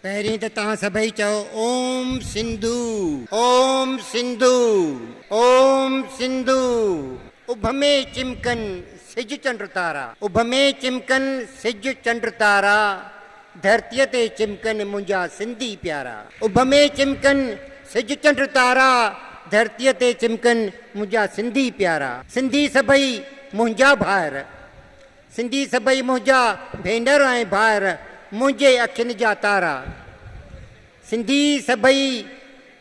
پهرين ته توهان سڀئي چئو اوم سنڌو اوم سنڌو اوم سنڌو اڀ ۾ چمڪن سج چنڊ تارا اڀ ۾ چمڪن سج چنڊ تارا ڌرتيء تي چمڪن منهنجا سنڌي پيارا اڀ ۾ چمڪن سج چنڊ تارا ڌرتيء تي چمڪن منهنجا سنڌي پيارا سنڌي سڀئي منهنجا ڀائر سنڌي سڀئي منهنجا ڀينر ۽ ڀائر منهنجي اکين جا تارا سنڌي سڀئي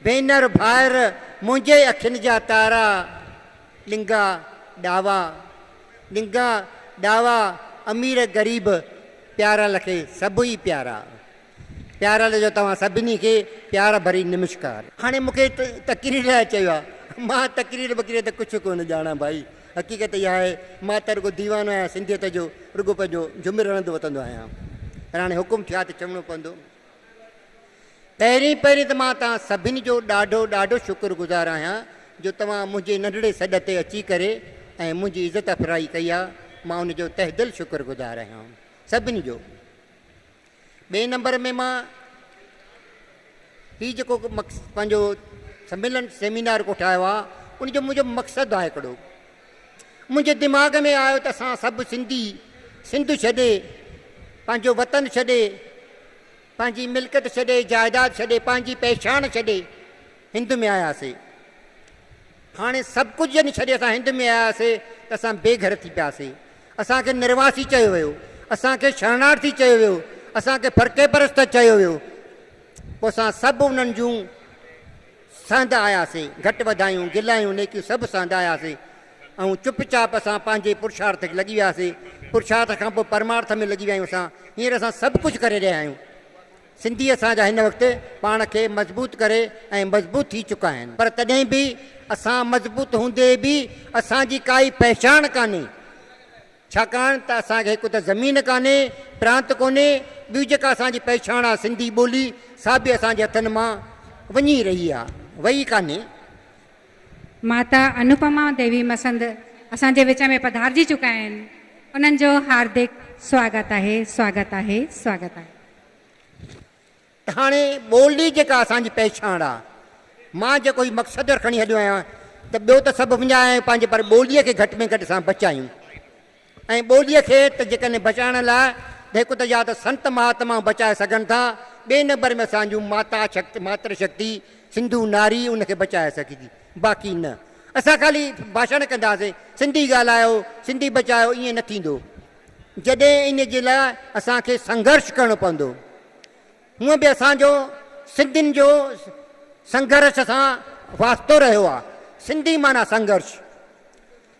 ڀينر ڀائر منهنجي اکين جا تارا ڏنگا ڏاوا ڏنگا ڏاوا امير غريب پيارا لکي سڀ ئي پيارا. پيارل جو توهان سڀني کي پيار ڀري نمشڪار. هاڻي مون کي تقرير لاء چيو آهي مان تقرير بقرير ته ڪڇ ڪونه ڄاڻان ڀائي حقيقت اها آهي مان ته رڳو ديوانو آهيان سنڌيت جو رڳو پنهنجو جم رڙندو وتندو آهيان پر هاڻي حڪم ٿيو آهي ته چوڻو پوندو پهرين پهرين ته مان توهان سڀني جو ڏاڍو ڏاڍو شڪر گذار آهيان جو توهان منهنجي ننڍڙي سڏ تي اچي ڪري ۽ منهنجي عزت افرائي ڪئي آهي مان ان جو تهدل شڪر گذار آهيان سڀني جو. ٻئي نمبر ۾ مان هي جيڪو پنهنجو سميلن سيمينار ڪوٺايو آهي ان جو منهنجو مقصد آهي هڪڙو منهنجي دماغ ۾ آيو ته اسان سڀ سنڌي سنڌ ڇڏي پنهنجو وطن ڇڏي پنهنجي ملڪيت ڇڏي جائيداد ڇڏي پنهنجي پهچان ڇڏي هند ۾ آياسي. هاڻي سڀ ڪجهه جڏهن ڇڏي اسان هند ۾ آياسي ته اسان بي گهر ٿي پياسي. اسان کي نرواسي چيو ويو. اسان کي شرڻارٿي چيو ويو. اسان کي فرقي پرست چيو ويو. پوء اسان سڀ انهن جون سهندا آياسي. گهٽ وڌايون، گلايون، نيڪيون سڀ سهندا آياسي ۽ چپ چاپ اسان پنهنجي پرشارٿ کي لڳي وياسي. پرشارٿ کان پوء پرمارٿ ۾ لڳي ويا آهيون اسان. هينئر اسان سڀ ڪجهه ڪري رهيا آهيون. سنڌي اسان جا هن وقت پاڻ کي مضبوط ڪري ۽ مضبوط ٿي چڪا آهن پر تڏهن به اسان مضبوط هوندي به اسان جي ڪائي پهچاڻ ڪانهي ڇاڪاڻ ته اسان کي هڪ ته زمين ڪانهي پرانت ڪونهي ٻيو جيڪا اسان جي پهچاڻ آهي سنڌي ٻولي سا به اسان جي هٿن مان وڃي رهي آهي وئي ڪانهي. ماتا انوپما ديوي مسند اسان جي وچ ۾ پڌارجي چڪا آهن انهن جو هاردڪ سواگت آهي سواگت آهي سواگت آهي. هاڻي ٻولي جيڪا اسان جي پهچاڻ آ، مان جيڪو هي مختصر کڻي هليو آهيان ته ٻيو ته سڀ منهنجا آهن پنهنجي پر ٻوليء کي گهٽ ۾ گهٽ اسان بچايون ۽ ٻوليء کي ته جيڪڏهن بچائڻ لاء ته هڪ ته يا ته سنت مهاتمائون بچائي سگهن ٿا ٻئي نمبر ۾ اسان جون ماتا شڪتي ماتر شڪتي سنڌو ناري ان کي بچائي سگهي ٿي باقي نه اسان خالي ڀاشڻ ڪنداسين سنڌي ڳالهايو سنڌي بچايو ائين نه ٿيندو جڏهن ان جي لاء اسان کي سنگهرش ڪرڻو پوندو. هونء به اسان جو سنڌين جو سنگهرش سان واسطو رهيو آ. سنڌي معنيٰ سنگهرش.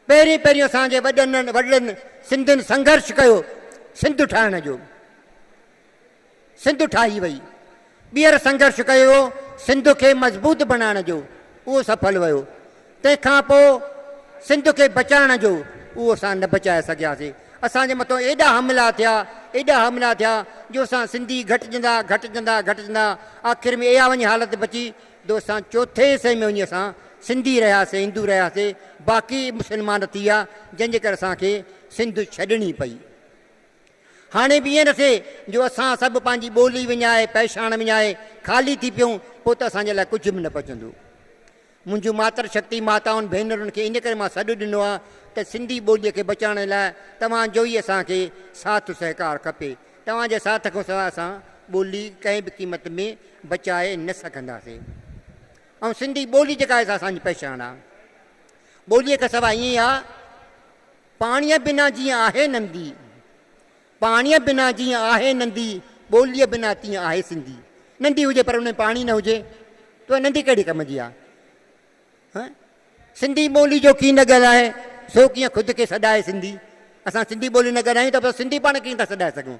پهرين پهرين اسان جي وڏن وڏڙن سنڌين سنگهرش ڪيو سنڌ ٺاهڻ جو. سنڌ ٺاهي وئي. ٻيهر سنگهرش ڪيو ويو سنڌ کي مضبوط بڻائڻ جو، اهو سڦل ويو. تنهن کان پوء سنڌ کي بچائڻ جو، اهو اسان نه بچائي سگهياسين. اسان جي مٿان ايڏا حملا ٿيا، ايڏا حملا ٿيا جو اسان سنڌي گهٽجندا، گهٽجندا، گهٽجندا آخر ۾ اها وڃي حالت بچي جو اسان چوٿين حصي ۾ وڃي اسان سنڌي رهياسين، هندو رهياسين، باقي مسلمان ٿي ويا جنهن جي ڪري اسان کي سنڌ ڇڏڻي پئي. هاڻي به ائين نه ٿئي جو اسان سڀ پنهنجي ٻولي وڃائي، پئشاڻ وڃائي خالي ٿي پيون، پوء ته اسان جي لاء ڪجهه به نه بچندو. منهنجون ماتر شڪتي ماتائن ڀينرن کي ان ڪري مان سڏ ڏنو آهي ته سنڌي ٻوليء کي بچائڻ لاء توهان جو ئي اسان کي ساٿ سهڪار کپي. توهان جي ساٿ کان سواء اسان ٻولي ڪنهن به قيمت ۾ بچائي نه سگهنداسين. ۽ سنڌي ٻولي جيڪا آهي سا اسان جي پئشاڻ آهي. ٻوليء کان سواء ائين آهي. پاڻيء بنا جيئن آهي نندي. پاڻيء بنا جيئن آهي نندي، ٻوليء بنا تيئن آهي سنڌي. نندي هجي پر ان ۾ پاڻي نه هجي ته نندي ڪهڙي ڪم جي آهي؟ هه سنڌي ٻولي جو ڪين نه ڳالهائي سو ڪيئن خود کي سڏائي سنڌي؟ اسان سنڌي ٻولي نه ڳالهايون ته پوء سنڌي پاڻ کي ڪيئن ٿا سڏائي سگهون؟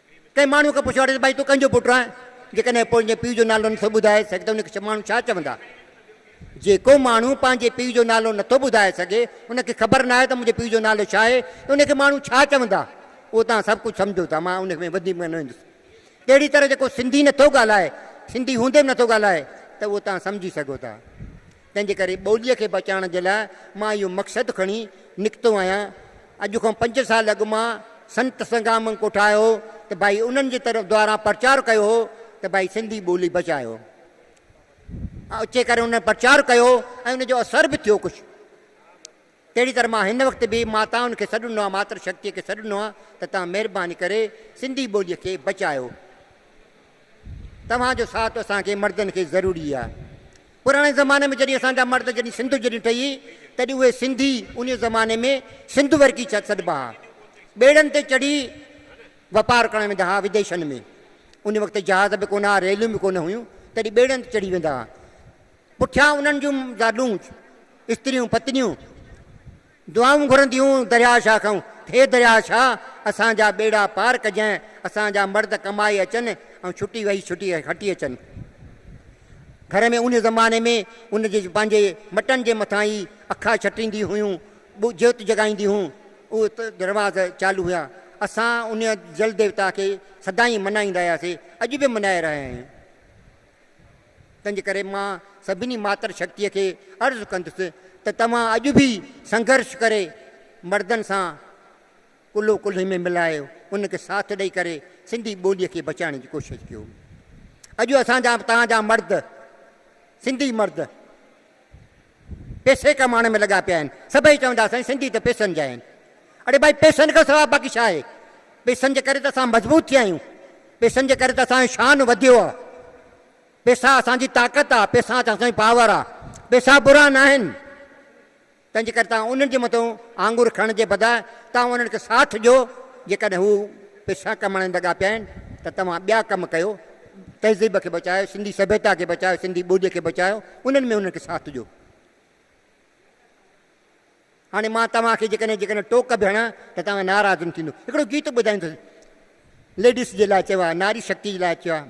ڪنهن ماڻهوء کان پڇيو آهي ته ڀائي تون ڪنهن جو پٽ آهين؟ جيڪڏهن پوء تنهنجي پيء جو نالو نٿو ٻڌائي سگهين ته ان کي ماڻهو ڇا چوندا؟ جيڪو ماڻهو پنهنجي پيء جو نالو نٿو ٻڌائي سگهي، ان کي خبر ناهي ته منهنجي پيء جو نالو ڇا آهي ته ان کي ماڻهو ڇا چوندا؟ اهو توهان سڀ ڪجهه سمجهو ٿا، مان ان ۾ وڌيڪ ۾ نه ويندس. تهڙي طرح جيڪو سنڌي نٿو ڳالهائي، سنڌي هوندي به نٿو ڳالهائي ته اهو توهان سمجهي سگهو ٿا. تنهنجي ڪري ٻوليء کي بچائڻ جي لاء مان اهو مقصد کڻي نڪتو آهيان. اڄ کان پنج سال اڳ مان سنت سنگرامنگ ڪو ٺاهيو هو ته ڀائي انهن جي طرف دواران پرچار ڪيو هو ته ڀائي سنڌي ٻولي بچايو. اچي ڪري انهن پرچار ڪيو ۽ ان جو اثر به ٿيو ڪجهه. تهڙي طرح مان هن وقت به ماتائن کي سڏ ڏنو آهي، ماتر شڪتيء کي سڏ ڏنو آهي ته توهان مهرباني ڪري سنڌي ٻوليء کي بچايو. توهان جو ساٿ اسان کي مردن کي ضروري آهي. پراڻي زماني ۾ جڏهن اسان جا مرد جڏهن سنڌ جڏهن ٺهي تڏهن اهي سنڌي انهيء زماني ۾ سنڌ ورڪي سڏبا ها. ٻيڙن تي چڙهي واپار ڪرڻ ويندا ها وديشن ۾. ان وقت جهاز به ڪونه ها، ريلون به ڪونه هيون، تڏهن ٻيڙن تي چڙهي ويندا ها. پٺيان انهن جون زالون، استريون، پتنيون، دعائون گهرنديون درياهه شاهه کان، هي درياهه شاهه! اسان جا ٻيڙا پار ڪجانء، اسان جا مرد ڪمائي اچن ۽ ڇٽي وهي ڇٽي هٽي اچن. گهر ۾ انهيء زماني ۾ ان جي پنهنجي مٽن جي مٿان ئي اکا ڇٽينديون هيون، جيوت جڳائينديون هيون، اهي ته رواز چالو هيا. اسان انهيء جل ديوتا کي سدائين مڃائيندا هياسين، اڄ به مڃائي رهيا آهيون. تنهنجي ڪري مان سڀني ماتر شڪتيء کي عرض ڪندس ته توهان اڄ به سنگهرش ڪري مردن سان ڪلهو ڪلهي ۾ ملايو انهن کي ساٿ ڏئي ڪري سنڌي ٻوليء کي بچائڻ جي ڪوشش ڪيو. اڄ اسان جا توهان جا مرد سنڌي مرد پيسي ڪمائڻ ۾ لڳا پيا آهن. سڀئي چوندا سائين سنڌي ته پيسن جا آهن. اڙي ڀائي پيسن کان سواء باقي ڇا آهي؟ پيسن جي ڪري ته اسان مضبوط ٿيا آهيون. پيسن جي ڪري ته اسان جو شان وڌيو آهي. پيسا اسان جي طاقت آهي. پيسا اسان جي پاور آهي. پيسا برا ناهن. تنهنجي ڪري توهان انهن جي مٿون آڱر کڻڻ جي بداء توهان انهن کي ساٿ ڏيو، جيڪڏهن هو پئسا ڪمائڻ جي لڳا پيا آهن ته توهان ٻيا ڪم ڪيو، تهذيب کي بچايو، سنڌي سڀيتا کي بچايو، سنڌي ٻوليء کي بچايو، انهن ۾ انهن کي ساٿ ڏيو. هاڻي مان توهان کي جيڪڏهن جيڪڏهن ٽوڪ به هڻان ته توهان ناراض نه ٿيندو. هڪڙو گيت ٻڌائيندس ليڊيس جي لاء چيو آهي، ناري شڪتيء جي لاء چيو آهي.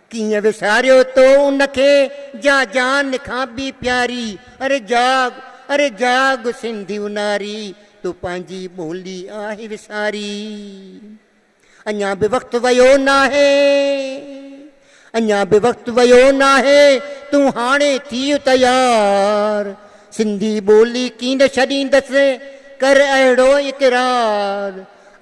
ڪيئن وساريو تو ان کي جا جان کان به پياري اري جاڳ اري جاڳ سنڌيو ناري تو پنهنجي ٻولي آهي وساري اڃان به وقت ويو ناهي اڃان به وقت ويو ناهي تون هاڻي ٿي تيار سنڌي ٻولي ڪين ڇڏيندس ڪر اهڙو اقرار.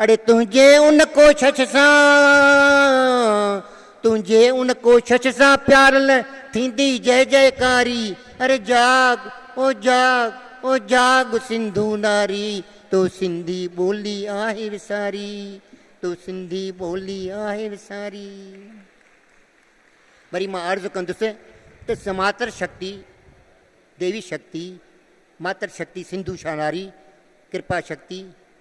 اڙي تنهنجي ان ڪوشش سان، تنهنجي ان ڪوشش سان پيارل ٿيندي جئه جئه ڪاري، اڙي جاڳ او جاڳ او جاڳ سنڌو ناري، تو سنڌي ٻولي آهي وساري، تو سنڌي ٻولي آهي وساري. وري مان عرض ڪندس ته سماتر شڪتي، ديوي شڪتي، ماتر شڪتي سنڌو شاهناري، ڪرپا شڪتي،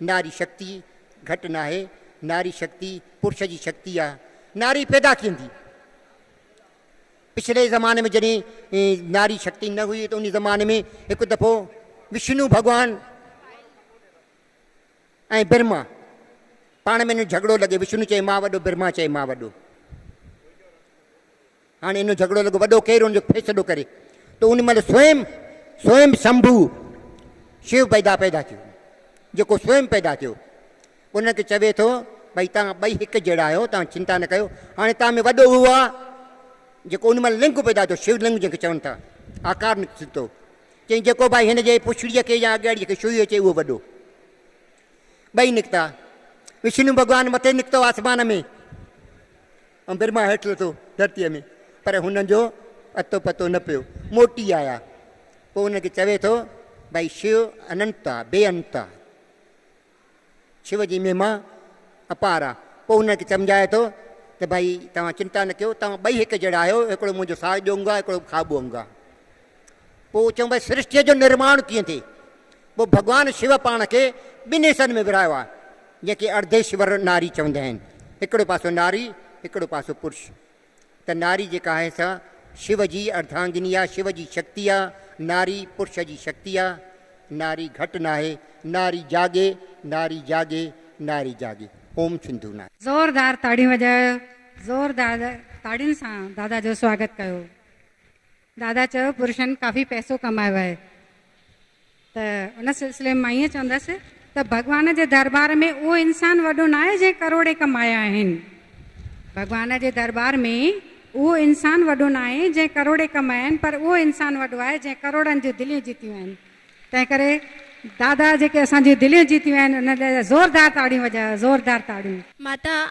ناري شڪتي گهٽ ناهي، ناري شڪتي پرش جي شڪتي آ، ناري پيدا ڪيندي. پڇلي زماني ۾ جڏهن ناري شڪتي نه هئي ته ان زماني ۾ هڪ دفعو وشنو ڀڳوان ۽ برهما پاڻ ۾ جهڳڙو لڳي، وشنو چئي مان وڏو، برهما چئي مان وڏو. هاڻي ان جو جهڳڙو لڳو وڏو ڪير ان جو ڦيسلو ڪري ته ان مهل سوئم سوئم سمڀو شيو پيدا پيدا ٿيو جيڪو سوئم پيدا ٿيو ان کي چوي ٿو ڀئي تان ٻئي هڪ جهڙا آهيو تان چنتا نه ڪيو هاڻي تان ۾ وڏو اهو آهي جيڪو ان مهل لنگ پيدا ٿيو شيو لنگ جنهن کي چون ٿا آڪار نڪتو چئي جيڪو ڀائي هن جي پڇڙيء کي يا اڳياڙيء کي شوئي اچي اهو وڏو ٻئي نڪتا وشنو ڀڳوان مٿي نڪتو آسمان ۾ امبر مان هيٺ لٿو ڌرتيء ۾، پر هنن جو اتو پتو نه پيو، موٽي آيا. پوء انهن کي چوي ٿو، ڀائي شو اننت آ، بي انت آ. شو جي مهما اپار آ. پوء انهن کي سمجهائي ٿو ته ڀائي توهان چنتا نه ڪيو، توهان ٻئي هڪ جهڙا آهيو، هڪڙو منهنجو ساڄو انگ آ، هڪڙو کاٻو انگ آ. پوء چئون ڀاء سرشٽيء جو نرماڻ ڪيئن ٿئي؟ پوء ڀڳوان شو پاڻ کي ٻن حصن ۾ ورهايو آهي، جنهن کي ارديشور ناري چوندا آهن، هڪڙو پاسو ناري، هڪڙو پاسو پرش. ته ناري جيڪا آهي سا شو جي ارداهنگني آهي، شو جي شڪتي آهي، ناري پرش جي شڪتي آهي. ناري گهٽ ناهي، ناري جاڳي، ناري جاڳي، ناري جاڳي. اوم سنڌو ناري. زوردار تاڙيون وڄايو زوردار تاڙين سان دادا جو سواگت ڪيو. دادا چيو پرشن ڪافي پئسو ڪمايو آهي ته ان سلسلي ۾ مان ائين چوندس ته ڀڳوان جي درٻار ۾ اهو انسان وڏو ناهي جنهن ڪروڙين ڪمايا آهن. ڀڳوان جي درٻار ۾ اهو انسان وڏو ناهي جنهن ڪروڙين ڪمايا آهن پر اهو انسان وڏو آهي جنهن ڪروڙن جون دليون جيتيون آهن تنهن ڪري دادا جيڪي اسان جون دليون جيتيون آهن انهن لاء زوردار تاڙيون وڄايو زوردار تاڙيون. ماتا